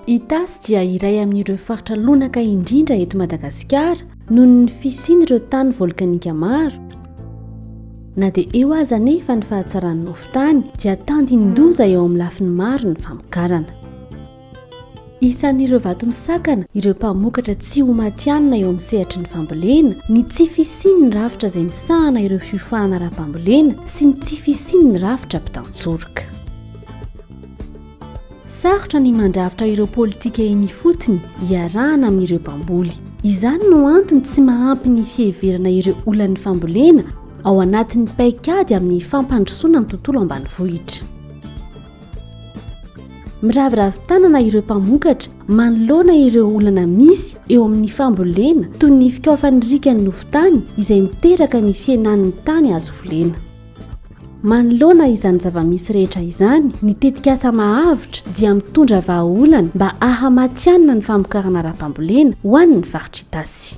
Itasy dia iray amin'ireo faritra lonaka indrindra eto Madagasikara noho ny fisian'ireo tany volkanika maro. Na dia eo aza anefa ny fahatsaran'ny hofon-tany dia tandindoza eo amin'ny lafiny maro ny famokarana. Isan'ireo vato misakana ireo mpamokatra tsy ho matihanina eo amin'ny sehatry ny fambolena ny tsy fisian'ny rafitra izay misahana ireo fiofahana ara-pambolena sy ny tsy fisian'ny rafitra mpitantsoroka. Sarotra ny mandrafitra ireo politika eny ifotony iarahana amin'ireo mpamboly. Izany no antony tsy mahampy ny fiheverana ireo olan'ny fambolena ao anatin'ny paikady amin'ny fampandrosoana ny tontolo ambanivohitra. Miraviravy tanana ireo mpamokatra manoloana ireo olana misy eo amin'ny fambolena toy ny fikaofan'ny rikan'ny nofon-tany izay miteraka ny fihenan'ny tany azo volena. Manoloana izany zava-misy rehetra izany, ny tetikasa Mahavitra dia mitondra vahaolana mba hahamatihanina ny famokarana ara-pambolena ho an'ny faritra Itasy.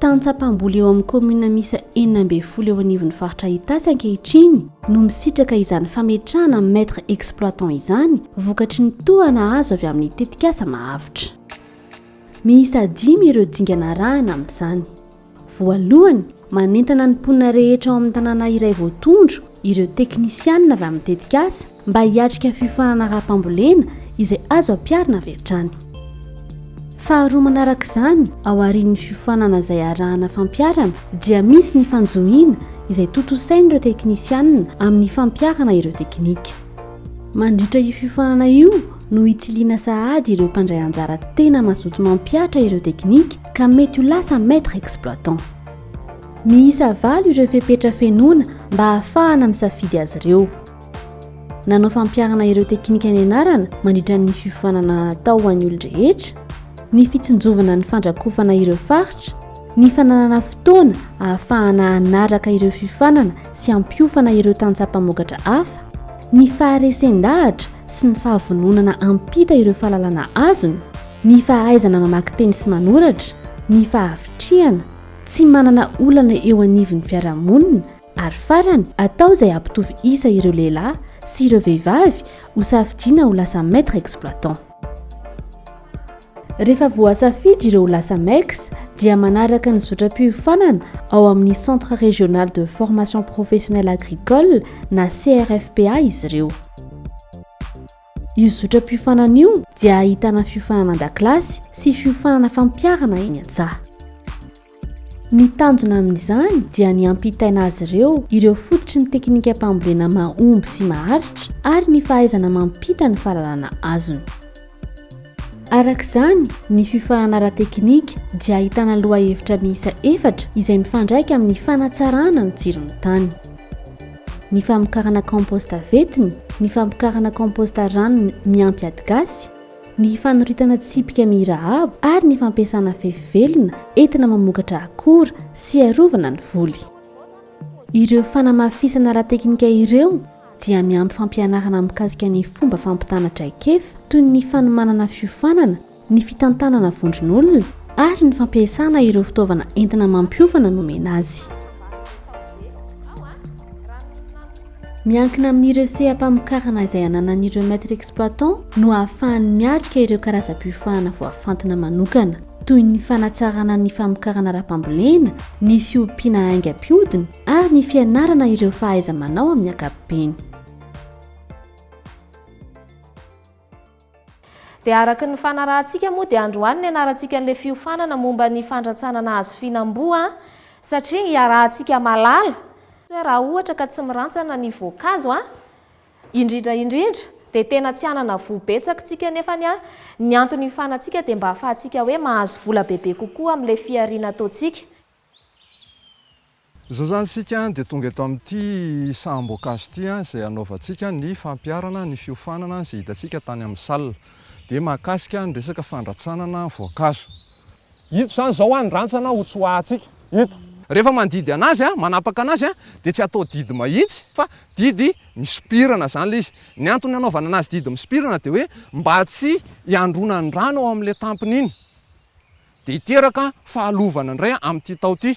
Tany Tsapamboly eo amin'ny kaominina miisa enina ambin'ny folo eo anivon'ny faritra Itasy ankehitriny no misitraka izany fametrahana maitre exploitant izany vokatry ny tohana azo avy amin'ny tetikasa mahavitra. Miisa dimy ireo dingana arahana amin'izany. Voalohany, manentana ny mponina rehetra ao amin'ny tanàna iray voatondro ireo teknisianina avy amin'ny tetikasa, mba hiatrika fiofanana ara-pambolena izay azo ampiharina avy hatrany. Faharoa manarak'izany, ao aorian'ny fiofanana izay arahana fampiharana dia misy ny fanjohiana izay tontosain'ireo teknisianina amin'ny fampiharana ireo teknika. Mandritra io fiofanana io no hitsiliana sahady ireo mpandray anjara tena mazoto mampihatra ireo teknika ka mety ho lasa maître exploitant. Miisa valo ireo fepetra fenoina mba ahafahana misafidy azy ireo. Nanao fampiharana ireo teknika nianarana mandritra ny fiofanana natao ho an'ny olon-drehetra, ny fitsinjovana ny fandrakofana ireo faritra, ny fananana fotoana ahafahana hanaraka ireo fiofanana sy hampiofana ireo tantsaha mpamokatra hafa, ny faharesen-dahatra sy ny fahavononana hampita ireo fahalalana azony, ny fahaizana mamaky teny sy manoratra, ny fahavitrihana, tsy manana olana eo anivon'ny fiarahamonina, Ary farany, atao izay hampitovy isa ireo lehilahy sy ireo vehivavy hosafidiana ho lasa maître exploitant. Rehefa voasafidy ireo ho lasa MEX dia manaraka ny zotram-piofanana ao amin'ny Centre Régional de Formation Professionnelle Agricole na CRFPA izy ireo. Io zotram-piofanana io dia ahitana fiofanana an-dakilasy sy fiofanana fampiharana eny an-tsaha. Ny tanjona amin'izany dia ny hampitaina azy ireo ireo fototry ny teknikam-pambolena mahomby sy maharitra ary ny fahaizana mampita ny fahalalana azony. Araka izany, ny fiofanana ara-teknika dia ahitana lohahevitra miisa efatra izay mifandraika amin'ny fanatsarana ny tsiron'ny tany. ny famokarana kaomposta ventiny, ny famokarana kaomposta ranony miampy adigasy, ny fanoritana tsipika mirahaba ary ny fampiasana fefy velona entina mamokatra akora sy arovana ny voly. Ireo fanamafisana ara-teknika ireo dia miampy fampianarana mikasika ny fomba fampitana traikefa toy ny fanomanana fiofanana ny fitantanana vondron'olona ary ny fampiasana ireo fitaovana entina mampiofana nomena azy. Miankina amin'ireo seha-pamokarana izay ananan'ireo maître exploitant no ahafahany miatrika ireo karazam-piofahana voafantina manokana, toy ny fanatsarana ny famokarana ara-pambolena, ny fiompiana aingam-piodina ary ny fianarana ireo fahaiza-manao amin'ny ankapobeny. Dia araka ny fanarahantsika moa dia androany ny anarantsika an'ilay fiofanana momba ny fandratsana nahazo fihinam-boa an! satria iarahantsika malala hoe raha ohatra ka tsy mirantsana ny voankazo an! indrindra indrindra dia tena tsy hanana voa betsaka tsika nefany an! ny antony hiofanantsika dia mba hahafahantsika hoe mahazo vola bebe kokoa amin'ilay fihariana ataontsika. Izao izany isika dia tonga eto amin'ity saham-boankazo ity izay hanaovantsika ny fampiharana ny fiofanana izay hitantsika tany amin'ny salle. Dia mahakasika ny resaka fandratsanana voankazo. Ito izany izao an, ny rantsana hotsoahantsika eto. Rehefa mandidy anazy, manapaka anazy, dia tsy atao didy mahitsy fa didy misopirana izany ilay izy. Ny antony hanaovana anazy didy misopirana dia hoe mba tsy hiandronan'ny rano ao amin'ilay tampony iny. Dia hiteraka fahalovana indray amin'ity tao ity.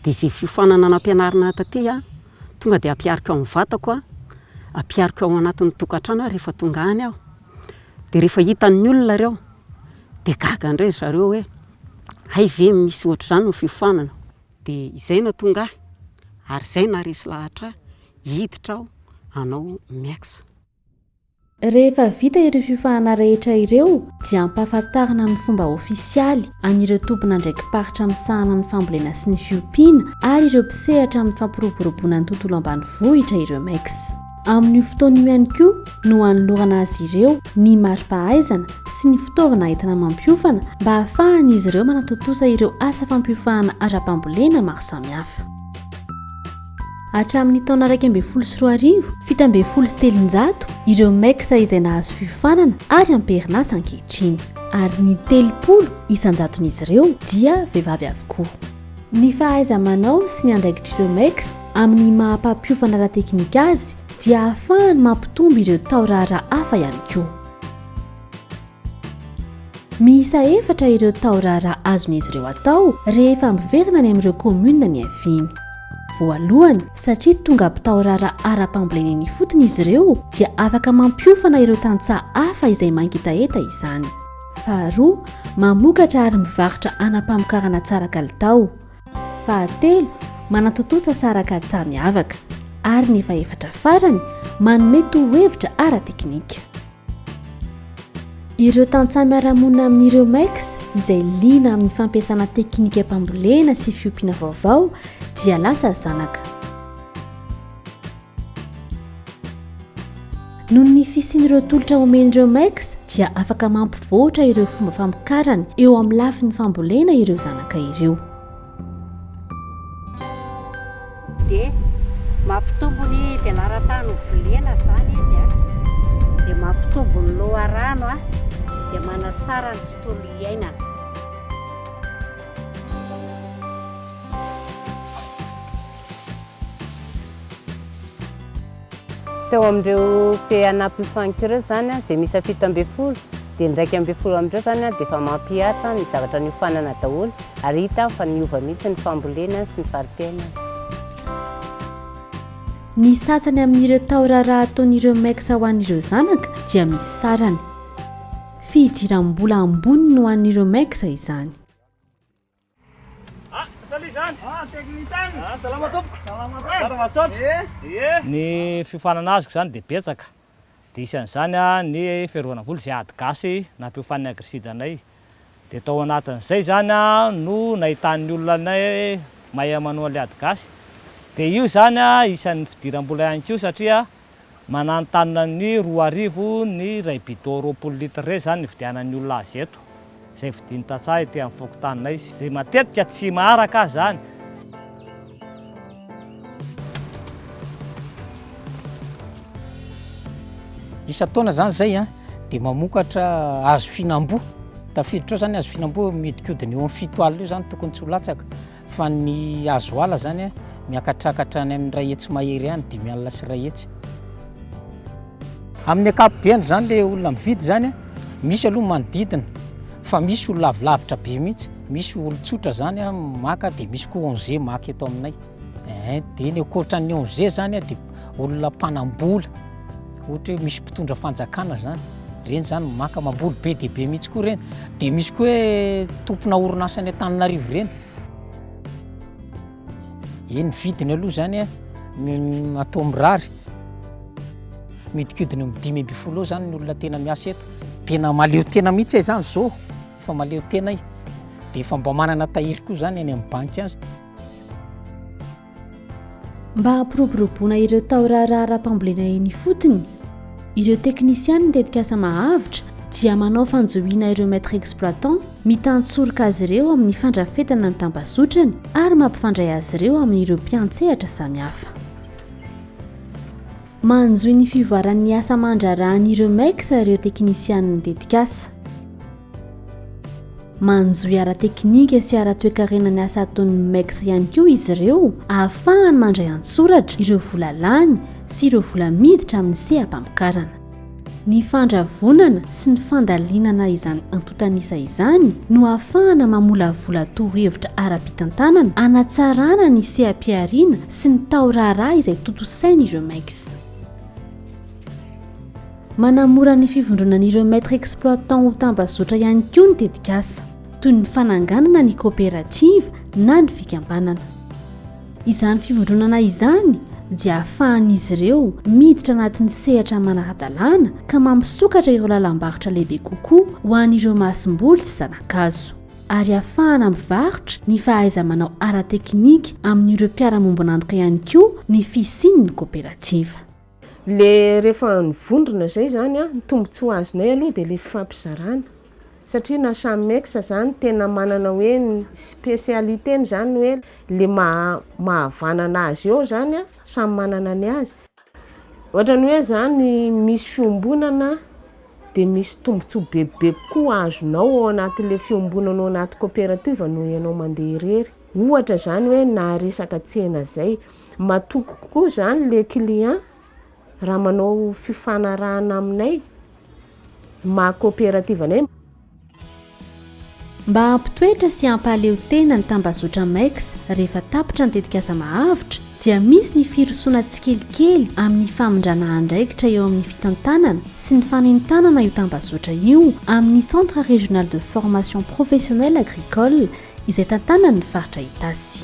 Dia izay fiofanana nampianarina ahy taty, tonga dia ampihariko amin'ny vatako, ampihariko ao anatin'ny tokantrano rehefa tonga any aho. Dia rehefa hitan'ny olona ireo, dia gaga indray ry zareo hoe, hay ve misy ohatr'izany ny fiofanana? Dia izay no hahatonga ahy, ary izay no haharesy lahatra ahy, hiditra aho hanao miaksa. Rehefa vita ireo fiofahana rehetra ireo dia ampahafantarina amin'ny fomba ofisialy an'ireo tompon'andraiki-paritra misahana ny fambolena sy ny fiompiana ary ireo mpisehatra amin'ny fampiroboroboana ny tontolo ambanivohitra ireo MECS. Amin'io fotoana io ihany koa no hanolorana azy ireo ny mari-pahaizana sy ny fitaovana entina mampiofana mba hahafahan'izy ireo manatontosa ireo asa fampiofahana ara-pambolena maro samihafa. Hatramin'ny taona iraika ambin'ny folo sy roa arivo, fito ambin'ny folo sy telonjato ireo MEX izay nahazo fiofanana ary am-perinasa ankehitriny, ary ny telopolo isan-jaton'izy ireo dia vehivavy avokoa. Ny fahaiza-manao sy ny andraikitr'ireo MEX amin'ny maha-mpampiofana ara-teknika azy dia ahafahany mampitombo ireo tao raharaha hafa ihany koa. Miisa efatra ireo tao-raharaha azon'izy ireo atao rehefa miverina any amin'ireo kaominina niaviany. Voalohany, satria tonga mpitao-raharaha ara-pambolena eny ifotony izy ireo, dia afaka mampiofana ireo tantsaha hafa izay mangetaheta izany. Faharoa, mamokatra ary mivarotra anam-pamokarana tsara kalitao. Fahatelo, manatontosa saran-katsaha miavaka. Ary ny fahefatra farany, manome tohihevitra ara-teknika. Ireo tantsaha miara-monina amin'ireo MECS izay liana amin'ny fampiasana teknikam-pambolena sy fiompiana vaovao dia lasa zanaka. Noho ny fisian'ireo tolotra omen'ireo MECS dia afaka mampivoatra ireo fomba famokarana eo amin'ny lafiny fambolena ireo zanaka ireo. Dia mampitombo ny velaran-tany ho volena izany izy a, dia mampitombo ny loharano a, dia manatsara ny tontolo iainana. Teo amin'ireo pays an'Apple Funk ireo izany an, izay miisa fito ambin'ny folo dia ny iraika ambin'ny folo amin'ireo izany an dia efa mampihatra ny zavatra niofanana daholo ary hita fa niova mihitsy ny fambolena sy ny fari-piainana. Ny sasany amin'ireo tao raharaha ataon'ireo mecs ho an'ireo zanaka dia misy sarany. Fihidiram-bola ambony no an'ireo mecs izany. Ny fiofanana azoko izany dia betsaka, dia isan'izany ny fiarovana voly izay ady gasy nampiofan'ny Agriside anay. Dia tao anatin'izay izany no nahitan'ny olona anay mahay manoa an'ilay ady gasy. Dia io izany isan'ny fidiram-bola ihany koa satria mananontanona ny roa arivo ny iray bidon roapolo litre iray izany nividianan'ny olona azy eto, izay vidin'ny tantsaha ety amin'ny fokontaninay, izay matetika tsy maharaka aza izany. Isan-taona izany izay dia mamokatra hazo fihinam-boa, tafiditra ao izany hazo fihinam-boa mihodinkodina eo amin'ny fito alina eo izany tokony tsy ho latsaka. Fa ny hazo ala zany a, miakatrakatra any amin'ny iray hetsy mahery any, dimy alina sy iray hetsy. Amin'ny ankapobeny zany le olona mividy zany a, misy aloha manodidina, fa misy olona avy lavitra be mihitsy, misy olon-tsotra zany a maka, de misy koa ONG maka eto aminay. Ehe, de ny ankoatran'ny ONG zany a, de olona mpanam-bola. ohatra hoe misy mpitondra fanjakana zany reny zany maka mamboly be dia be mihitsy koa reny dia misy koa hoe tompona orinasa any an-taninarivo reny e ny vidiny aloha zany a atao mirary midikidina ny dimy amby folo zany ny olona tena miasa eto tena maleo tena mihitsy e zany zao efa maleo tena e dia efa mba manana tahiry koa zany any amin'ny banky azy Mba hampiroboroboana ireo tao-raharaha ara-pambolena eny ifotony, ireo teknisianin'ny tetikasa Mahavitra dia manao fanjohiana ireo maîtres exploitants, mitantsorika azy ireo amin'ny fandrafetana ny tambazotrany ary mampifandray azy ireo amin'ireo mpiantsehatra samihafa. Manjohy ny fivoaran'ny asa aman-draharahan'ny Remex ireo teknisianin'ny tetikasa. Manjohy ara-teknika sy ara-toekarena ny asa ataon'ny Remex ihany koa izy ireo ahafahany mandray an-tsoratra ireo vola lany sy ireo vola miditra amin'ny seha-pamokarana. Ny fandravonana sy ny fandalinana izany antontan'isa izany no ahafahana mamolavola torohevitra ara-pitantanana hanatsarana ny seha-pihariana sy ny taoraharaha izay tontosain'ireo MECS. Manamora ny fivondronan'ireo Maîtres Exploitants ho tambazotra ihany koa ny tetikasa, toy ny fananganana ny koperativa na ny fikambanana. Izany fivondronana izany dia ahafahan'izy ireo miditra anatin'ny sehatra manara-dalàna ka mampisokatra ireo lalam-barotra lehibe kokoa ho an'ireo masomboly sy zana-kazo, ary ahafahana mivarotra ny fahaiza-manao ara-teknika amin'ireo mpiara-miombon'antoka ihany koa ny fisian'ny koperativa. Ilay rehefa nivondrona izay izany an, ny tombontsoa azonay aloha dia ilay fifampizarana. Satria na samy mecs zany tena manana hoe ny specialités-ny zany hoe le maha mahavanana azy eo zany an, samy manana ny azy. Ohatrany hoe zany misy fiombonana de misy tombotsoa bebe kokoa azonao ao anatin'le fiombonana ao anaty coopérative noho ianao mandeha irery. Ohatra zany hoe na resaka tsena zay, matoky kokoa zany le client Raha manao fifanarahana aminay ny maha coopérative anay. Mba hampitoetra sy hampahaleo tena ny tambazotra MEX rehefa tapitra ny tetikasa Mahavotra dia misy ny firosoana tsikelikely amin'ny famindrana andraikitra eo amin'ny fitantanana sy ny fanentanana io tambazotra io amin'ny Centre Régional de Formation Professionnelle Agricole izay tantanan'ny faritra Itasy.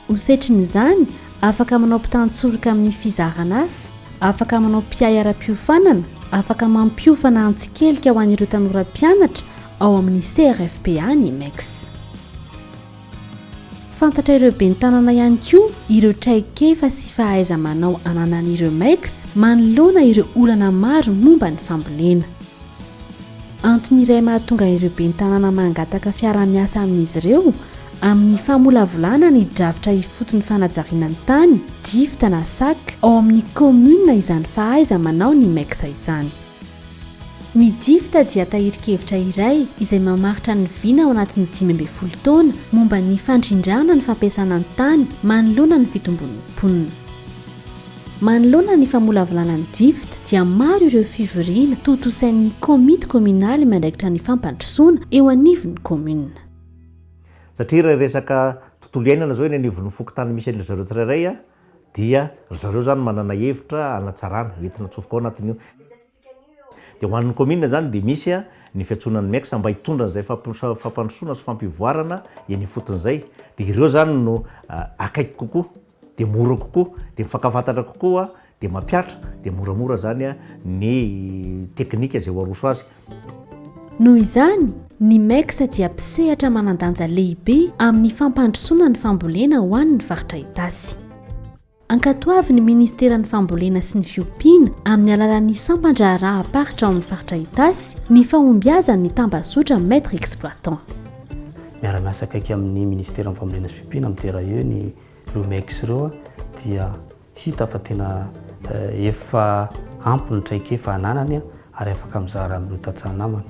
Ho setrin'izany, afaka manao mpitantsoroka amin'ny fizaran'asa, afaka manao mpiahy ara-piofanana, afaka mampiofana an-tsikelika ho an'ireo tanora mpianatra ao amin'ny CRFPA ny MEX. Fantatra ireo ben'ny tanàna ihany koa ireo traikefa sy fahaiza-manao ananan'ireo MEX manoloana ireo olana maro momba ny fambolena. Antony iray mahatonga ireo ben'ny tanàna mangataka fiaraha-miasa amin'izy ireo amin'ny famolavolana ny drafitra ifotony fanajariana ny tany, DIFT na sac, ao amin'ny kaominina izany fahaiza-manao ny MECS izany. Ny DIFT dia tahirin-kevitra iray izay mamaritra ny vina ao anatin'ny dimy ambin'ny folo taona momba ny fandrindrana ny fampiasana ny tany manoloana ny fitombon'ny mponina. Manoloana ny famolavolana ny Difid dia maro ireo fivoriana tontosain'ny Komity Kominaly miandraikitra ny fampandrosoana eo anivon'ny Kominina. Satria raha resaka tontolo iainana izao eny anivon'ny fokontany misy an-dry zareo tsirairay dia ry zareo izany manana hevitra hanatsarana entina atsofoka ao anatin'io. Dia ho an'ny kaominina izany dia misy ny fiantsoana ny MECSA mba hitondra an'izay fampandrosoana sy fampivoarana eny ifotony izay. Dia ireo izany no akaiky kokoa, dia mora kokoa, dia mifankafantatra kokoa, dia mampihatra, dia moramora izany ny teknika izay ho aroso azy. Noho izany, ny MECSA dia mpisehatra manan-danja lehibe amin'ny fampandrosoana ny fambolena ho an'ny faritra Itasy. Ankatoavin'ny Ministeran'ny Fambolena sy ny Fiompiana, amin'ny alalan'ny sampan-draharaham-paritra ao amin'ny Faritra Itasy, ny fahombiazan'ny tambazotra Maître Exploitant. Miara-miasa akaiky amin'ny Ministeran'ny Fambolena sy Fiompiana amin'ny DRAE ny ireo MEX ireo dia hita fa tena efa ampy ny traikefa ananany ary afaka mizara amin'ireo tantsaha namany.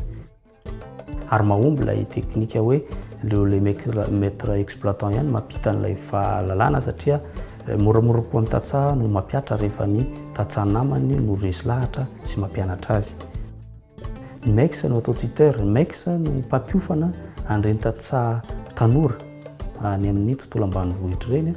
Ary mahomby ilay teknika hoe aleo ilay maître exploitant ihany mampita an'ilay fahalalana satria moramora kokoa ny tantsaha no mampiatra rehefa ny tantsaha namany no resy lahatra sy mampianatra azy. Ny MEX no atao tuteur, ny MEX no mpampiofana an'ireny tantsaha tanora any amin'ny tontolo ambanivohitra ireny.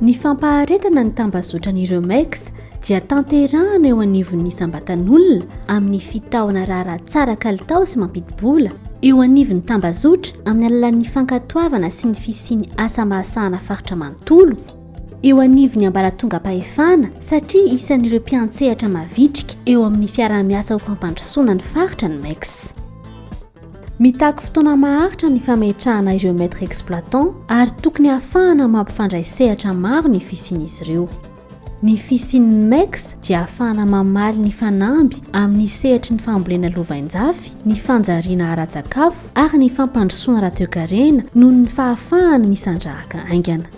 Ny fampaharetana ny tambazotran'ireo MECS dia tanterahana eo anivon'ny isam-batan'olona amin'ny fitahona raharaha tsara kalitao sy mampidi-bola eo anivon'ny tambazotra amin'ny alalan'ny fankatoavana sy ny fisian'ny asa mahasahana faritra manontolo eo anivon'ny ambaratongam-pahefana satria isan'ireo mpiantsehatra mavitrika eo amin'ny fiaraha-miasa ho fampandrosoana ny faritra ny MECS. Mitaky fotoana maharitra ny fametrahana ireo maître exploitant ary tokony hahafahana mampifandray sehatra maro ny fisian'izy ireo. Ny fisian'ny MEX dia hahafahana mamaly ny fanamby amin'ny sehatry ny fambolena lovainjafy, ny fanjariana ara-tsakafo ary ny fampandrosoana ara-toekarena noho ny fahafahany misandrahaka haingana.